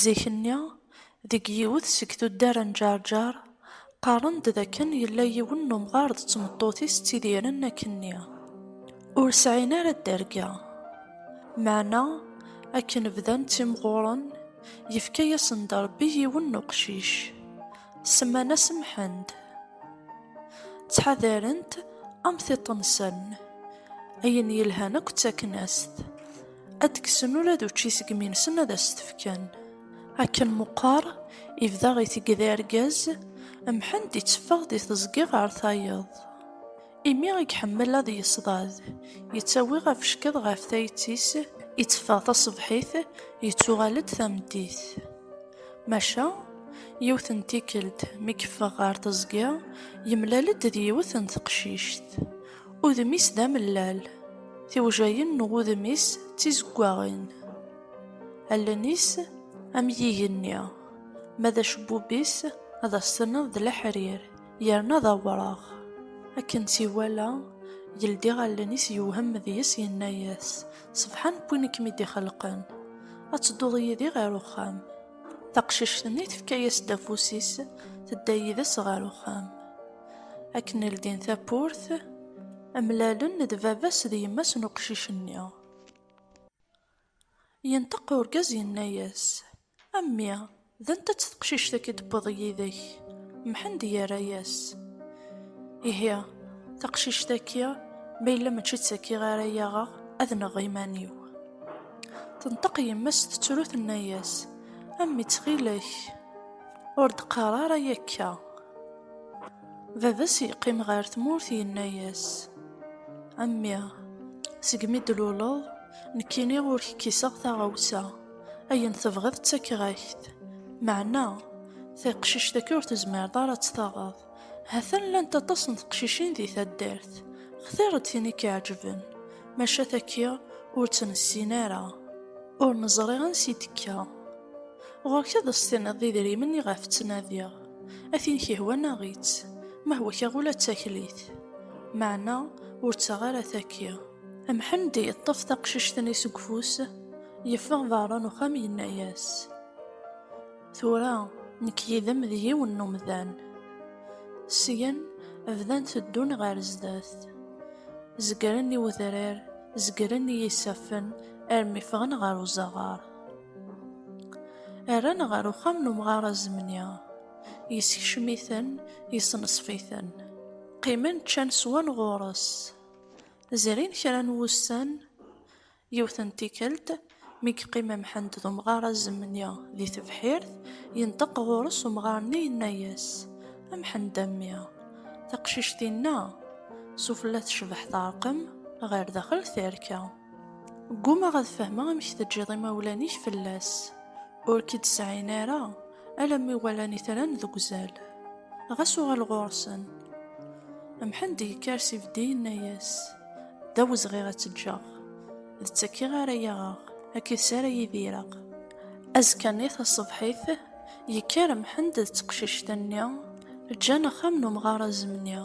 Zik-nni, deg yiwet seg tuddar n Ǧerǧer, qqaren-d d akken yella yiwen n umɣar d tmeṭṭut-is ttidiren akkenni, ur sɛin ara dderga. Meɛna, akken bdan ttimɣuren, yefka-yasen-d Rebbi yiwen n uqcic, semman-as Mḥend. Ttḥadaren-t am tiṭ-nsen, ayen yelhan akk ttaken-as-t. ad d-kksen ula d učči seg minsen ad as-t-fken. Akken meqqar, ibda itegd argaz, Mḥend itteffeɣ di teẓgi ɣer tayeḍ. Imi i iḥemmel ad yeṣḍad, yettawi afeckeḍ ɣef tayet-is, itteffeɣ taṣebḥit, yettuɣal-d tameddit. Maca, yiwet n tikkelt mi yeffeɣ ɣer teẓgi, yemlal-d d yiwet n teqcict. Udem-is d amellal, tiwjayin n wudem-is d tizeggaɣin. Allen-is am yigenni, ma d acebbub-is ad as-tenneḍ d leḥrir, yerna d awraɣ. Akken tt-iwala, yeldi allen-is yewhem deg-s yenna-as, Sebḥan n win i kem-id-ixelqen, ad tedduḍ yid-i ɣer uxxam. Taqcict-nni tefka-as-d afus-is, tedda yid-s ɣer uxxam. Akken ldin tawwurt, mlalen d baba-s d yemma-s n uqcic-nni. Yenṭeq urgaz yenna-yas, A mmi, d anta-tt teqcict-agi d-tewwiḍ yid-k? Mḥend yerra-yas, Ihi, taqcict-agi, ma yella mačči d tagi ara yaɣeɣ, ad nɣeɣ iman-iw. Tenṭeq yemma-s tettru tenna-yas, A mmi ttxil-k, ur d-qqar ara akka. Baba-s yeqqim ɣer tmurt yenna-yas, A mmi, segmi d-luleḍ, nekkini ur k-kiseɣ taɣawsa, ayen tebɣiḍ ttakeɣ-ak-t. Meɛna, taqcict akka ur tezmireḍ ara ad tt-taɣeḍ. Ha-t-an llant aṭas n teqcicin di taddart, xtiṛ-d tin i k-iɛeǧben, maca taki ur tt-nessin ara, ur neẓri ansi d-tekka. Ɣur-k ad as-tiniḍ d idrimen iɣef ttnadiɣ. A tin kihwan aɣ-itt, ma hwa kaɣ ula d taklit. Meɛna ur ttaɣ ara taki. Mḥend yeṭṭef taqcict-nni seg ufus, yeffeɣ berra n uxxam yenna-yas, Tura nekk yid-m d yiwen n umdan. Syen bdan teddun ɣer zdat. Zegren i wedrar, zegren i yisaffen armi ffɣen ɣer uzaɣar. Rran ɣer uxxam n umɣar azemni. Yessekcem-iten, yesneṣf-iten. Qqimen ččan swan ɣur-s. Zrin kra n wussan, yiwet n tikkelt, mi yeqqim Mḥend d umɣar azemni di tebḥirt, yenṭeq ɣur-s umɣar-nni yenna-as, A Mḥend a mmi, taqcict-inna s ufella tecbeḥ teɛreq-m, ɣer daxel terka. Ggumaɣ ad fehmeɣ amek teǧǧiḍ imawlan-ik fell-as. Ur k-id-sɛin ara, alamma i walan itran deg uzal. Ɣas uɣal ɣur-sen. Mḥend yekker s ibeddi yenna-yas, D awezɣi ad tt-ǧǧeɣ. D tt-akkiɣ ara yaɣeɣ, akkit-s ara idireɣ. Azekka-nni taṣebḥit, Yekker Mḥend d teqcict-nni, ǧǧan axxam n umɣar azemni.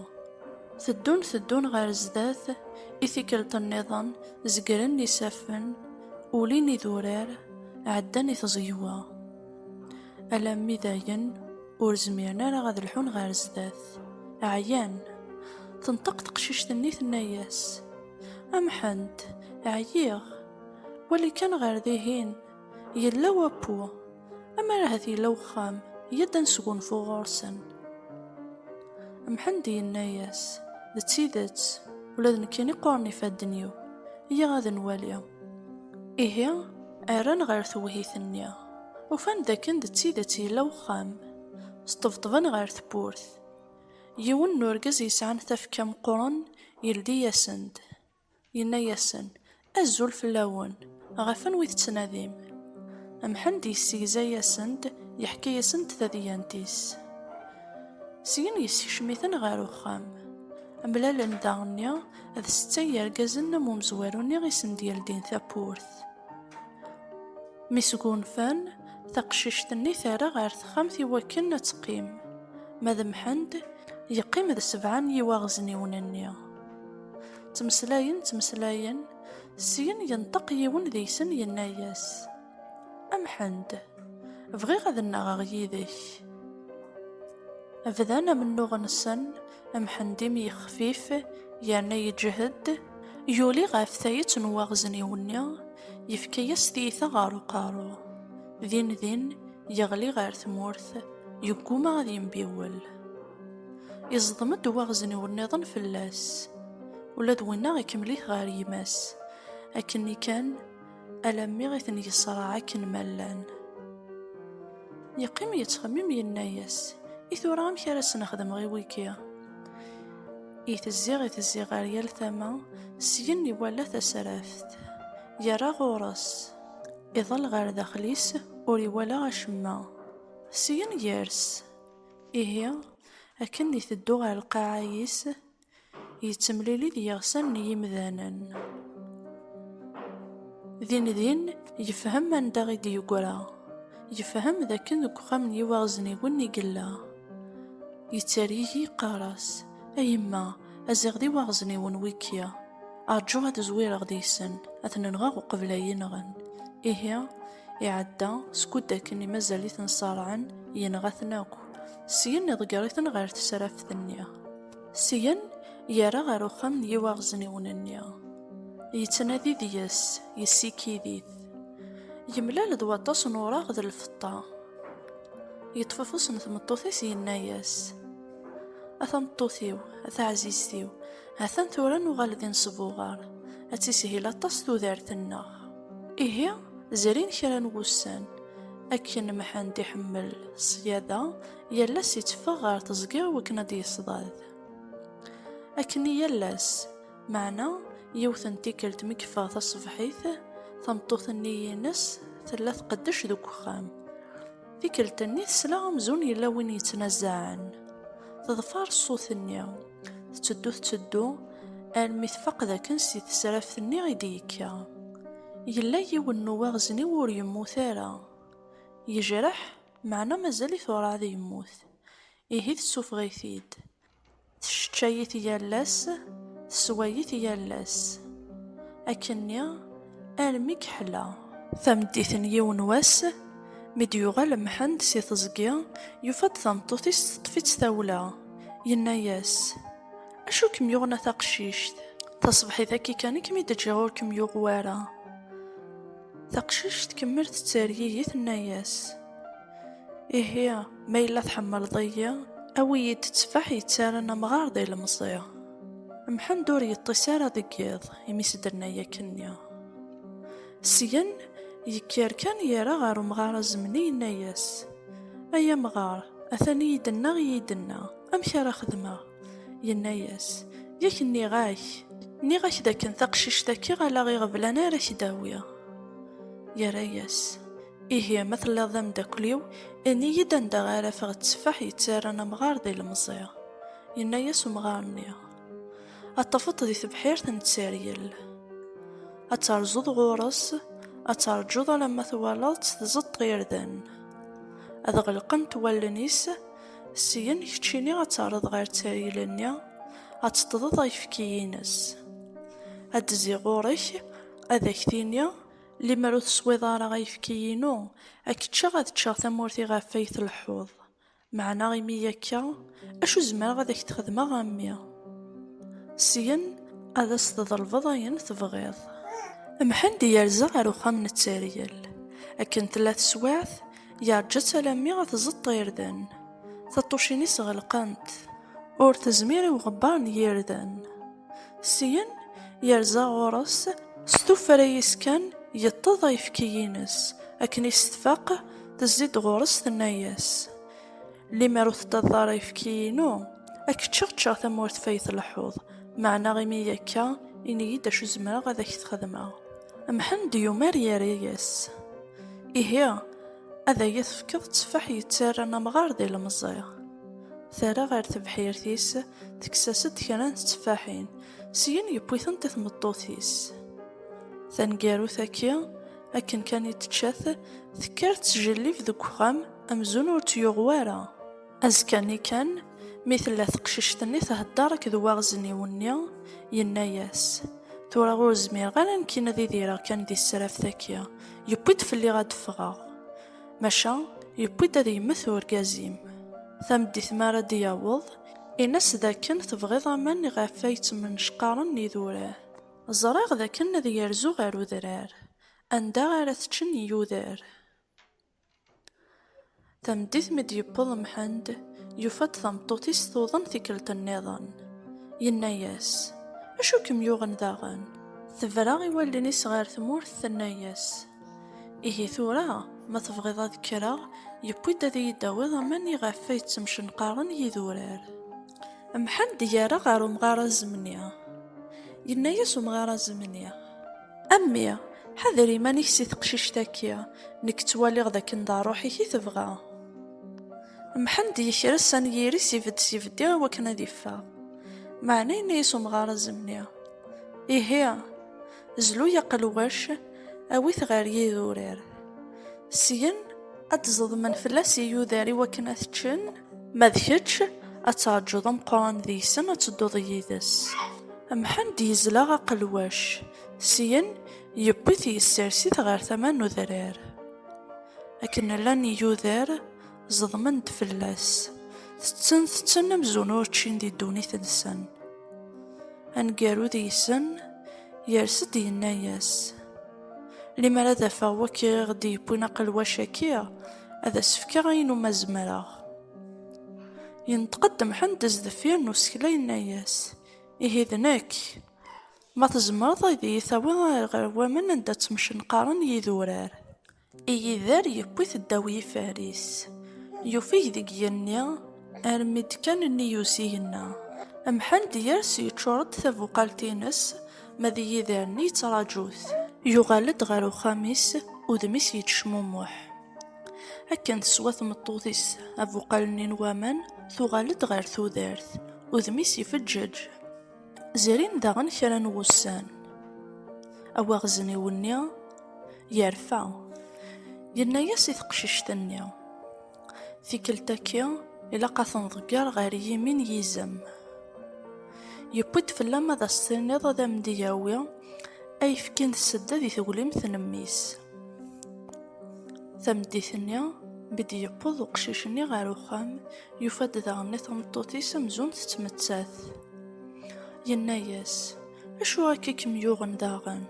Teddun teddun ɣer zdat, i tikkelt nniḍen zegren isaffen, ulin idurar, ɛeddan i tẓegwa. Alammi dayen ur zmiren ara ad lḥun ɣer zdat, ɛyan. Tenṭeq teqcict-nni tenna-yas, A Mḥend, ɛyiɣ, wali kan ɣer dihin, yella wappu. Amar ahat yella wexxam, yya-d ad nesgunfu ɣur-sen. Mḥend yenna-yas, d tidet, ula d nekkini qquren ifadden-iw, yya ad nwali. Ihi, rran ɣer tewhit-nni, ufan d akken d tidet yella wexxam, sṭebṭben ɣer tewwurt. Yiwen n urgaz yesɛan tafekka meqqren yeldi-yasen-d, Yenna-yasen, Azul fell-awen! Ɣef anwa i tettnadim? Mḥend yessegza-yasen-d, yeḥka-yasen-d tadyant-is. Syen yessekcem-iten ɣer uxxam. Mlalen daɣenni d setta n yirgazen am umezwaru-nni i sen-d-yeldin tawwurt. Mi sgunfan, taqcict-nni terra ɣer texxamt i wakken ad teqqim, ma d Mḥend, yeqqim d sebɛa n yiwaɣezniwen-nni. Ttmeslayen, ttmeslayen, syin yenṭeq yiwen deg-sen yenna-yas, Amḥend, bɣiɣ ad nnaɣeɣ yid-k. Bdan amennuɣ-nsen, Amḥend imi yexfif yerna yeǧhed, yuli ɣef tayet n waɣzen-iw-nni, yefka-yas tiyita ɣer uqerru. Din din, yeɣli ɣer tmurt, yegguma ad yembiwel. Iẓḍem-d waɣzen-iw nniḍen fell-as, ula d winna ikemmel-it ɣer yemma-s, akken-nni kan alammi i ten-yeṣraɛ akken ma llan. Yeqqim yettxemmim yenna-yas, i tura amek ara sen-xedmeɣ i wigi? I tezzi i tezzi ɣer yal tama, syen iwala tasraft, yerra ɣur-s, iḍall ɣer daxel-is ur iwala acemma, syen yers. Ihi, akken iteddu ɣer lqaɛa-is, yettemlili d yiɣsan n yimdanen. Din din, yefhem anda i d-yeggra. Yefhem d akken deg uxxam n yiwaɣezniwen i yella. Yettergigi yeqqar-as, A yemma, ad ziɣ d iwaɣezniwen wigi. Rǧu ad zwireɣ deg-sen, ad ten-nɣeɣ uqbel ad iyi-nɣen. Ihi. Iɛedda, skud akken i mazal-iten ṣerɛen, yenɣa-ten akk. Syen iḍegger-iten ɣer tesraft-nni. Syen, yerra ɣer uxxam n yiwaɣezniwen-nni. Yettnadi deg-s, yessikid-it. Yemlal d waṭas n uraɣ d lfeṭṭa. Yeṭṭef afus n tmeṭṭut-is yenna-yas, A tameṭṭut-iw, a taɛzizt-iw, ha-t-an tura nuɣal d inesbuɣar, ad tishil aṭas tudert-nneɣ. Ihi, zrin kra n wussan. Akken Mḥend iḥemmel ṣṣyada, yal ass itteffeɣ ɣer teẓgi i wakken ad d-yeṣdad. Akken i yal ass, meɛna yiwet n tikkelt mi yeffeɣ taṣebḥit, tameṭṭut-nni ines tella tqeddec deg uxxam. Tikkelt-nni tesla amzun yella win yettnazaɛen. Teḍfer ṣṣut-nni. Tetteddu tetteddu armi tfaq dakken si tesraft-nni i d-yekka. Yella yiwen n uwaɣezniw ur yemmut ara. Yejreḥ, meɛna mazal-it urɛad yemmut. Ihi tessufeɣ-it-id. Tesseččay-it yal ass, tessewway-it yal ass. Akkenni, Armi yeḥla. Tameddit n yiwen wass, mi d-yuɣal Mḥend si teẓgi, yufa-d tameṭṭut-is teṭṭef-itt tawla. Yenna-yas, Acu i kem-yuɣen a taqcict? Taṣebḥit-agi kan i kem-id-ǧǧiɣ ur kem-yuɣ wara. Taqcict tkemmel tettergigi, tenna-yas. Ihi, ma yella tḥemmleḍ-iyi, awi-yi-d tteffaḥ yettaran amɣar d ilemẓi. Mḥend ur yeṭṭis ara deg yiḍ imi s-d-tenna yakkenni. Syen, yekker kan yerra ɣer umɣar azemni yenna-yas, Ay amɣar, atan iyi-d-ennaɣ iyi-d-enna, amek ara xedmeɣ? Yenna-yas, Yak nniɣ-ak, nniɣ-ak d akken taqcict-agi ala iɣeblan ara k-d-awiɣ. Yerra-yas. Ihi ma telliḍ d amdakel-iw, ini-yi-d anda ara afeɣ tteffaḥ yettarran amɣar d ilemẓi. Yenna-yas umɣar-nni, ad tafeḍ di tebḥirt n tteryel. Ad terzuḍ ɣur-s, ad terǧuḍ alamma twalaḍ-tt tzeṭṭ irden. Ad ɣelqent wallen-is, syen keččini ad terreḍ ɣer tteryel-nni, ad teṭṭḍeḍ ayefki-ines. Ad d-tezzi ɣur-k, ad ak-tini, Limer ur teswiḍ ara ayefki-inu, ad k-ččeɣ ad ččeɣ tamurt iɣef ay tleḥḥuḍ. Meɛna imi akka, acu zemreɣ ad ak-t-xedmeɣ a mmi? Syen ad as-tḍelbeḍ ayen tebɣiḍ. Mḥend yerza ɣer uxxam n Tteryel. Akken tella teswiɛt, yeṛja-tt alammi ad tẓeṭṭ irden. Taṭṭucin-is ɣelqent. Ur tezmir i uɣebbar n yirden. Syen yerza ɣur-s s tuffra-is kan yeṭṭeḍ ayefki-ines akken i s-tfaq tezzi-d ɣur-s tenna-yas, Limer ur teṭṭiḍeḍ ara ayefki-inu ad k-ččeɣ ččeɣ tamurt fay tleḥḥuḍ, meɛna imi akka ini-yi-d acu zemreɣ ad ak-t-xedmeɣ. Mḥend yumar yerra-yas, Ihi. Ad iyi-tefkeḍ tteffaḥ yettarran amɣar d ilemẓi. Terra ɣer tebḥirt-is, tekkes-as-d kra n tteffaḥin, syin yewwi-tent i tmeṭṭut-is. Taneggarut-agi, akken kan i tečča-t, tekker tettjellib deg uxxam amzun ur tt-yuɣ wara. Azekka-nni kan, mi tella teqcict-nni thedder akked uwaɣezniw-nni, yenna-as, Tura ur zmireɣ ara nekkin ad idireɣ kan di tesraft-agi, yewwi-d fell-i ad d-ffɣeɣ. Maca, yewwi-d ad yemmet urgaz-im. Tameddit mi ara d-yaweḍ, in-as d akken tebɣiḍ aman iɣef ay ttmennecqaren yidurar. Ẓriɣ d akken ad yerzu ɣer udrar, anda ara t-ččen yiyudar. Tameddit mi d-yewweḍ Mḥend, yufa-d tameṭṭut-is tuḍen tikkelt nniḍen. Yenna-yas, Acu kem-yuɣen daɣen? Tebra i wallen-is ɣer tmurt, tenna-yas, Ihi tura, ma tebɣiḍ ad kkreɣ, yewwi-d ad iyi-d-tawiḍ aman iɣef ay ttemcenqaren yidurar. Mḥend yerra ɣer umɣar azemni. Yenna-yas umɣar azemni. A mmi, ḥader iman-ik si teqcict-agi, nekk ttwaliɣ d akken d aṛuḥ-ik i tebɣa. Mḥend yekres anyir-is ibedd s ibeddi i wakken ad iffeɣ. Meɛna yenna-yas umɣar azemni, Ihi, zlu-y aqelwac, awi-t ɣer yidurar. Syen, ad d-ẓeḍmen fell-as iyudar i wakken ad t-ččen. Ma d kečč, ad teṛǧuḍ ameqqran deg-sen ad tedduḍ yid-s. Mḥend yezla aqelwac, syen yewwi-t yessers-it ɣer tama n udrar. Akken llan yiyuder, zeḍmen-d fell-as, tetten tetten amzun ur ččin di ddunit-nsen. Aneggaru deg-sen yers-d yenna-yas. Limer ad afeɣ wakk i ɣ-d-yewwin aqelwac-agi, ad as-fkeɣ ayen umi zemreɣ. Yenṭeq-d Mḥend sdeffir n usekla yenna-as, Ihi d nekk! Ma tzemreḍ ad iyi-tawiḍ ɣer waman anda ttmecnqaren yidurar. Igider yewwi-t ddaw yifaris, yufeg deg yigenni armi d-kkan nnig usigna. Mḥend yers yeččur-d tabuqalt-ines, ma d igider-nni yettraǧu-t. Yuɣal-d ɣer uxxam-is, udem-is yettecmumuḥ. Akken teswa tmeṭṭut-is abuqal-nni n waman, tuɣal-d ɣer tudert, udem-is ifeǧǧeǧ. Zrin daɣen kra n wussan. Awaɣezniw-nni yerfa. Yenna-yas i teqcict-nni, Tikkelt-agi ilaq ad ten-ḍegger ɣer yimi n yizem. Yewwi-d fell-am ad as-tiniḍ ad am-d-yawi ayefki n tsedda di teglimt n mmi-s. Tameddit-nni, mi d-yewweḍ uqcic-nni ɣer uxxam, yufa-d daɣen i tmeṭṭut-is amzun tettmettat. Yenna-as, Acu akka i kem-yuɣen daɣen?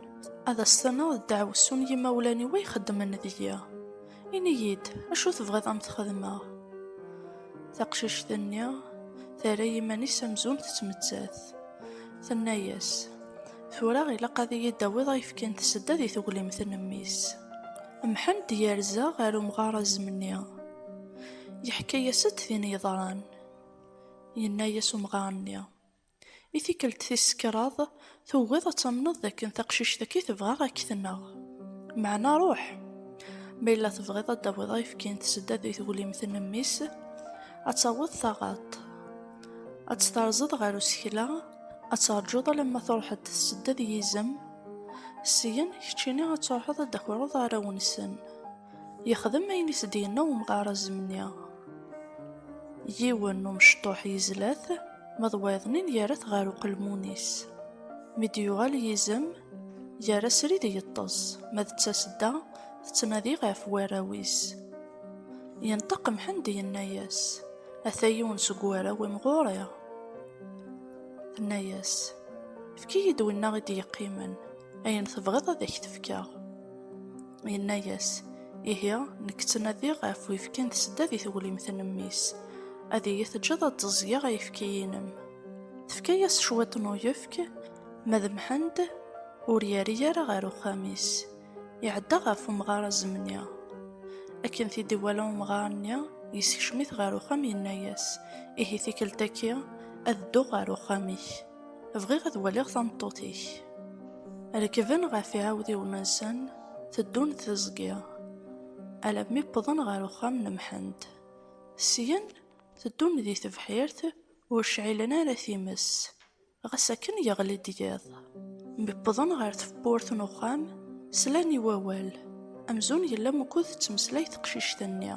Ad as-tenneɣ d ddaɛwessu n yimawlan-iw ay xeddmen deg-i. Ini-iyi-d, acu tebɣiḍ ad am-t-xedmeɣ? Taqcict-nni terra iman-is amzun tettmettat. Tenna-as, Tura ilaq ad iyi-d-tawiḍ ayefki n tsedda di teglimt n mmi-s. Mḥend yerza ɣer umɣar azemni. Yeḥka-yas-d tin yeḍran. Yenna-yas umɣar-nni, I tikkelt tis kraḍ tugiḍ ad tamneḍ d akken taqcict-agi tebɣa ad k-tneɣ. Meɛna ruḥ! Ma yella tebɣiḍ ad d-tawiḍ ayefki n tsedda di teglimt n mmi-s, ad taweḍ taɣaḍt. Ad tt-terẓeḍ ɣer usekla, Ad terǧuḍ alamma truḥeḍ tessedda d yizem, syen keččini ad truḥeḍ ad d-akureḍ arraw-nsen. Yexdem ayen i s-d-yenna umɣar azemni. Yiwen n umecṭuḥ yezla-t, ma d wayeḍnin yerra-t ɣer uqelmun-is. Mi d-yuɣal yizem, yerra srid yeṭṭes, ma d tasedda tettnadi ɣef warraw-is. Yenṭeq Mḥend yenna-yas, Ata yiwen seg warraw-im ɣur-i. Tenna-yas, Efk-iyi-d winna i d-yeqqimen, ayen tebɣiḍ ad ak-t-fkeɣ. Yenna-yas, Ihi, nekk ttnadiɣ ɣef uyefki n tsedda di teglimt n mmi-s, ad iyi-teǧǧeḍ ad d-ẓẓgeɣ ayefki-inem. Tefka-yas cwiṭ n uyefk, ma d Mḥend, ur yerri ara ɣer uxxam-is. Iɛedda ɣef umɣar azemni. Akken t-id-iwala umɣar-nni, yessekcem-it ɣer uxxam yenna-yas, Ihi tikkelt-agi ad dduɣ ɣer uxxam-ik. Bɣiɣ ad waliɣ tameṭṭut-ik. Rekben ɣef iɛawdiwen-nsen, teddun tiẓgi, alammi wwḍen ɣer uxxam n Mḥend. Syen, teddun di tebḥirt, ur cɛilen ara times. Ɣas akken yeɣli-d yiḍ, mi wwḍen ɣer tewwurt n uxxam, slan i wawal. Amzun yella wukud tettmeslay teqcict-nni.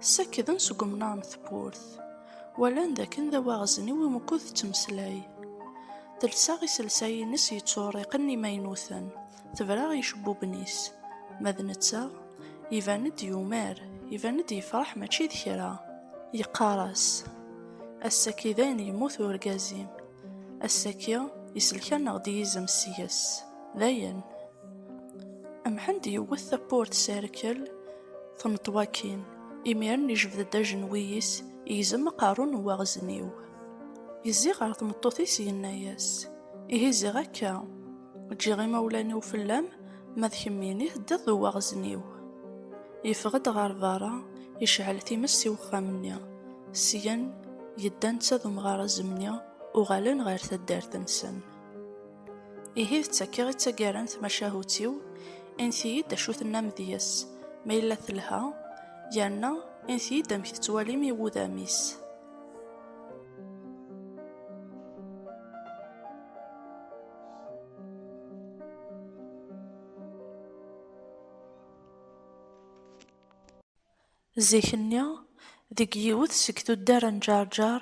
Ssakden seg umnar n tewwurt. Walan dakken d awaɣezniw i wukud tettmeslay. Telsa iselsa-ines yetturiqen imaynuten. Tebra i icebbuben-is. Ma d netta, iban-d yumar, iban-d yefreḥ mačči d kra. Yeqqar-as, Ass-agi dayen yemmut urgaz-im. Ass-agi iselkaneɣ-d yizem seg-s. Dayen. Mḥend yewwet tawwurt s rrkel, tenṭ wakin. Imiren ijbed-d ajenwi-is, igzem aqerru n uwaɣezniw. Yezzi ɣer tmeṭṭut-is yenna-as, Ihi ziɣ akka! Ǧǧiɣ imawlan-iw fell-am, ma d kemmini teddiḍ d uwaɣzen-iw. Yeffeɣ-d ɣer berra, yecɛel times i wexxam-nni. Syen, yedda netta d umɣarazem-nni, uɣalen ɣer taddart-nsen. Ihi d takka i d taggara n tmacahut-iw, init-iyi-d acu tennam deg-s, ma yella telha, yerna init-iyi-d amek tettwalim i wudam-is. Zik-nni, deg yiwet seg tuddar n Ǧerǧer,